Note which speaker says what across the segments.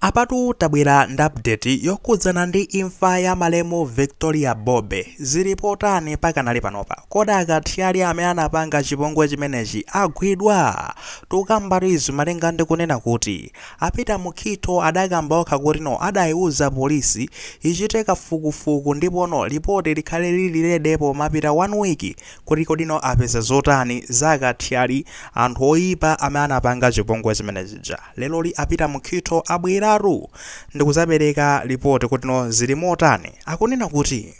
Speaker 1: Apatu tabwera ndi update yokhudzana ndi imfa ya malemu Victoria Bobe. Zili potani pakanali panopa? Kodi akathyali amene anapanga chipongwe chimenechi agwidwa? Tikukambatu izi malinga ndi kunena kuti a Peter Mukhitho adakamba okha kuti no adaiuza polisi ichite kafukufuku ndipo no lipoti likhale lili lede pomapita one week kuti kodi no apeza zotani za akathyali, anthu oipa amene anapanga chipongwe chimene chija. Leroli a Peter Mukhitho abweratu ndikudzapereka lipoti kuti no zili motani. Akunena kuti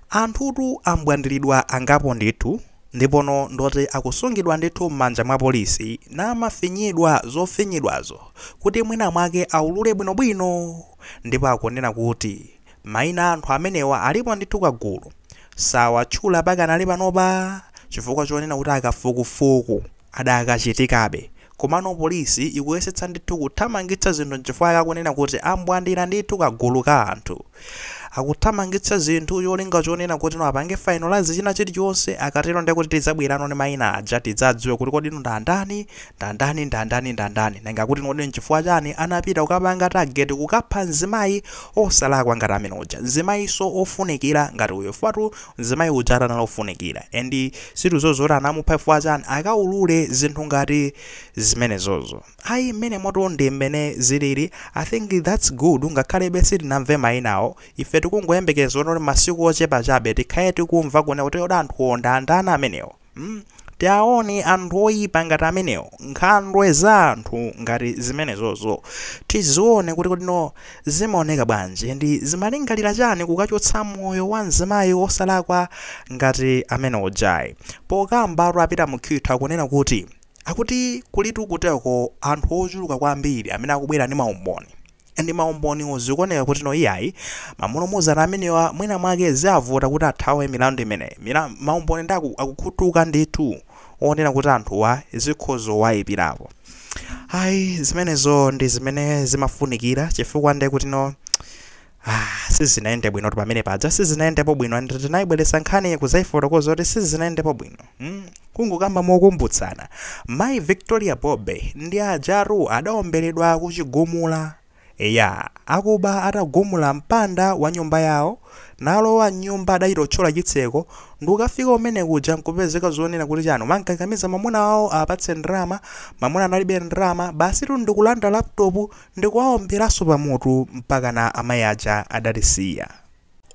Speaker 1: anthutu ambwandiridwa angapo ndithu ndipo no ndoti akusungidwa ndithu m'manja mwa polisi namafinyidwa zofinyidwazo kuti mwina mwake aulule bwinobwino ndipo akunena kuti Maina a anthu amenewa alipo ndithu kagulu. Sawatchula pakanali panopa chifukwa chonena kuti akafukufuku adakachitikabe. Komano polisi ikuyesetsa ndithu kuthamangitsa zinthu nchifukwa akunena kuti ambwandira ndithu kagulu ka anthu. Akuthamangitsa zinthu cholinga chonena kutino apange fainolazi china chilichonse akatero ndekuti tidzabwerano ndi maina aja tidzadziwe kuti kodino ndi andani Ndandani, ndandani, ndandani. Nanga kuti kodi nchifukwa chani anapita kukapanga target kukapha mzimayi osalakwa ngati amene uja? Mzimayiso ofunikira ngati uyo chifukwatu mzimayi ujatu anali ofunikira and ndiye tidziwe kuti anamupha chifukwa chani akaulure zinthu ngati zimenezozo ayi mmenemotu ndi mmene ziliri I think that's good ngakhalebe sitinamve mayinawo ife tikungoyembekeza kuti masiku ochepa chabe tikhale tikumva kunena kuti kodi anthuwo ndi andani amenewo? mm tiaoni anthu oyipa ngati amenewo nkhandwe za anthu ngati zimenezozo tizione kuti kodi no zimaoneka bwanji ndi zimalingalira chani kukachotsa moyo wa mzimayi osalakwa ngati amene ujayi pokambatu a Peter Mukhitho akunena kuti akuti kulitu kuteko anthu ochuluka kwambiri amene akubwera ndi maumboni and maumboniwo zikuoneka kuti no iyayi amulumuzana amenewa mwina mwake ziavuta kuti athawe milandu imeneyi maumboni ndi aku, akukhutuka ndithu onena kuti anthuwa zikhozo wayipirapo ayi zimenezo ndi zimene zimafunikira chifukwa ndiye kuti no Ah, sizinayende bwino pamene paja sizinayendepo bwino and tinayibweretsa nkhani kudzayifotokoza kuti sizinayendepo bwino mm kungokamba mokumbutsana mayi victoria bobe ndi ajatu adaomberedwa ku chigumula eya akuba atagumula mpanda wa nyumba yawo nalowa mnyumba adachita kuthyola chitseko ndikukafika kumene kuja nkupezeka zonena kuti chani amamukakamiza mamuna wawo apatse ndrama mamuna analibe ndrama basitu ndikulanda laptop ndikuwaomberanso pamutu mpakana amayi aja adatisiya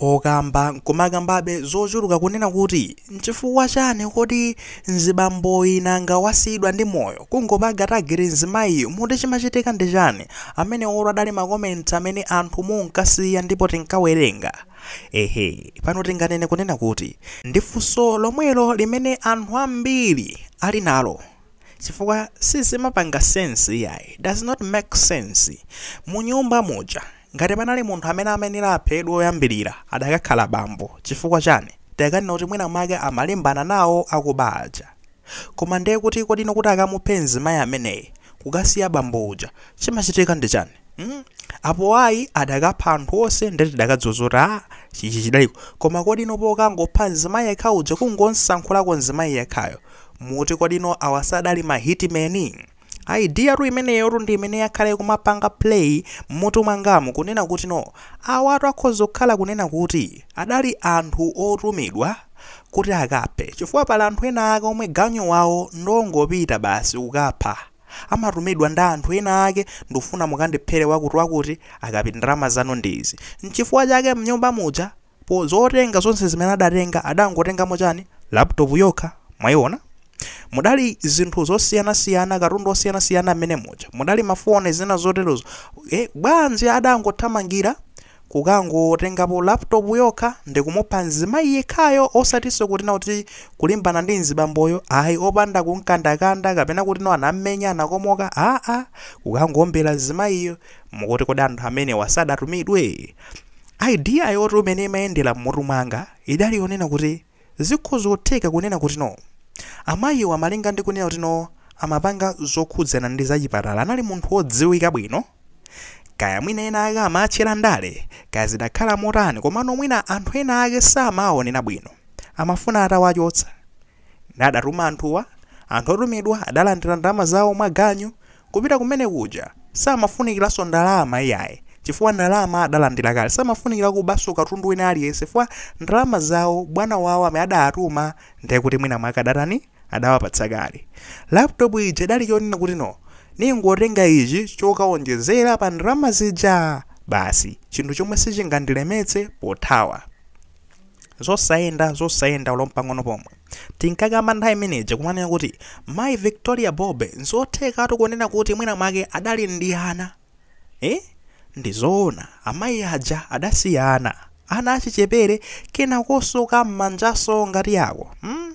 Speaker 1: Okamba nkumakambabe zochuluka kunena kuti nchifukwa chani kodi mzibamboyi nanga wasiyidwa ndi moyo kungopanga tageti mzimayiyu moti chimachitika ndi chani amenewotu adali ma comments amene anthu munkasiya ndipo tinkawerenga ehe pano tinganene kunena kuti ndi funso lomwelo limene anthu ambiri ali nalo chifukwa sizimapanga sense iyayi does not make sense mu nyumba muja ngati panali munthu amene amayenera aphedwe oyambirira adakakhala bambo chifukwa chani tikanena kuti mwina mwake amalimbana nawo akuba aja koma ndiye kuti kodi inu kuti akamuphe mzimayi ameneyi kukasiya bambo uja chimachitika ndi chani Hmm? apo ayi adakapha anthu onse nde tidakadziwa kuti a chichi chidaliko koma kodi inu pokangopha mzimayi yekha uja kungosankhulako mzimayi yekhayo muti kodi inu awa sadali ma hitman idea tu imeneyo tu ndi imene yakhala kumapanga play mmutu mwangamu kunena kuti no awatu akhoza kukhala kunena kuti adali anthu otumidwa kuti akaphe chifukwa pali anthu ena ake omwe ganyu wawo ndongopita basi kukapha amatumidwa ndi anthu ena ake ndikufuna mukandiphere wakuti wakuti akapita ndalama zanu ndi izi nchifukwa chake mnyumba muja po zotenga zonse zimene adatenga adangotengamo chani laptop yokha mwayiona mudali zinthu zosiyanasiyana katundu osiyanasiyana mmenemuja mudali mafoni zina zoterozo e, bwanji adangothamangira kukangotengapo laptop yokha ndikumupha mzimayi yekhayo osatinso kuti no kuti kulimbana ndi mzibamboyo ayi opanda kumkandakanda kapena kuti no anammenya anakomoka aa kukangoombera mzimayiyo mukuti kodi anthu amenewa sadatumidwe? idea yotu imene imayendera mmutu mwanga idali yonena kuti Zikhozotheka kunena kuti no amayiwa malinga ndi kunena kuti no amapanga zokhudzana ndi zachipatala anali munthu wodziwika bwino, kaya mwina ena ake amaatchera ndale, kaya zidakhala motani komano mwina anthu ena ake samaaonera bwino, amafuna atawachotsa. Nde adatuma anthuwa, anthu otumidwa adalandira ndalama zawo mwa ganyu Kupita kumene kuja samafunikilanso ndalama iyayi chifukwa ndalama adalandila kale. Samafunikila kubanso katundu wina aliyense chifukwa ndalama zawo bwana wawo amene adawatuma ndiye kuti mwina mwake adatani, adawapatsa kale. Laptop ija idali chonena kuti no, ningotenga ichi chokaonjezela pa ndalama zija basi. Chinthu chomwe sichingandilemetse pothawa. Zosayenda, zosayenda olo mpang'ono pomwe. Tinkakamba nthawi imeneja kumanena kuti, Mayi Victoria Bobe, n'zothekatu kunena kuti mwina mwake adali ndi ana. Eh? Ndi zoona, amayi aja adasiya ana. Ana achichepere, kenakonso ka m'manjanso kadaliko. Hmm?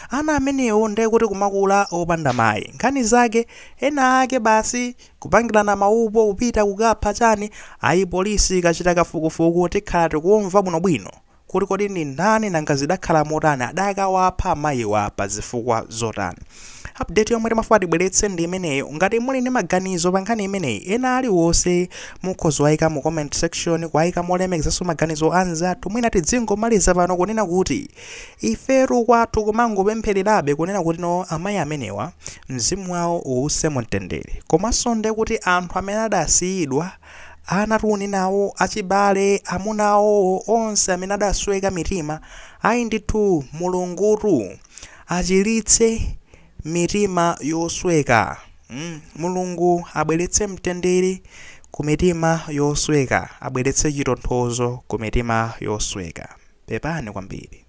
Speaker 1: Ana amenewo ndiye kuti kumakula opanda mayi. Nkhani zake, ena ake basi kupangirana maupo kupita kukapha chani, ayi police ikachita kafukufuku tikhala tikumva bwinobwino. kuti kodi ndi ndani nanga zidakhala motani adakawapha amayiwa pa zifukwa zotani update yomwe timafuna tibweretse ndi imeneyo ngati muli ndi maganizo pa nkhani imeneyi ena aliwonse mukhoza kuwayika mu comment section kuwayika molemekezanso maganizo anzathu mwina tidzingomaliza pano kunena kuti ifetu kwathu kumangopemphererabe kunena kuti no amayi amenewa mzimu wawo uwuse mu mtendere komanso nde kuti anthu amene adasiyidwa Ana, tiana tawo, achibale, amuna awowo, onse amene adasweka mitima, ayi ndithu Mulungutu achiritse mitima yosweka, mm, Mulungu abweretse mtendere ku mitima yosweka, abweretse chitonthozo ku mitima yosweka. Pepani kwambiri.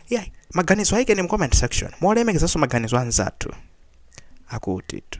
Speaker 1: Yeah, maganizo ayikeni mu comment section. Molemekezanso maganizo anzathu akutitu.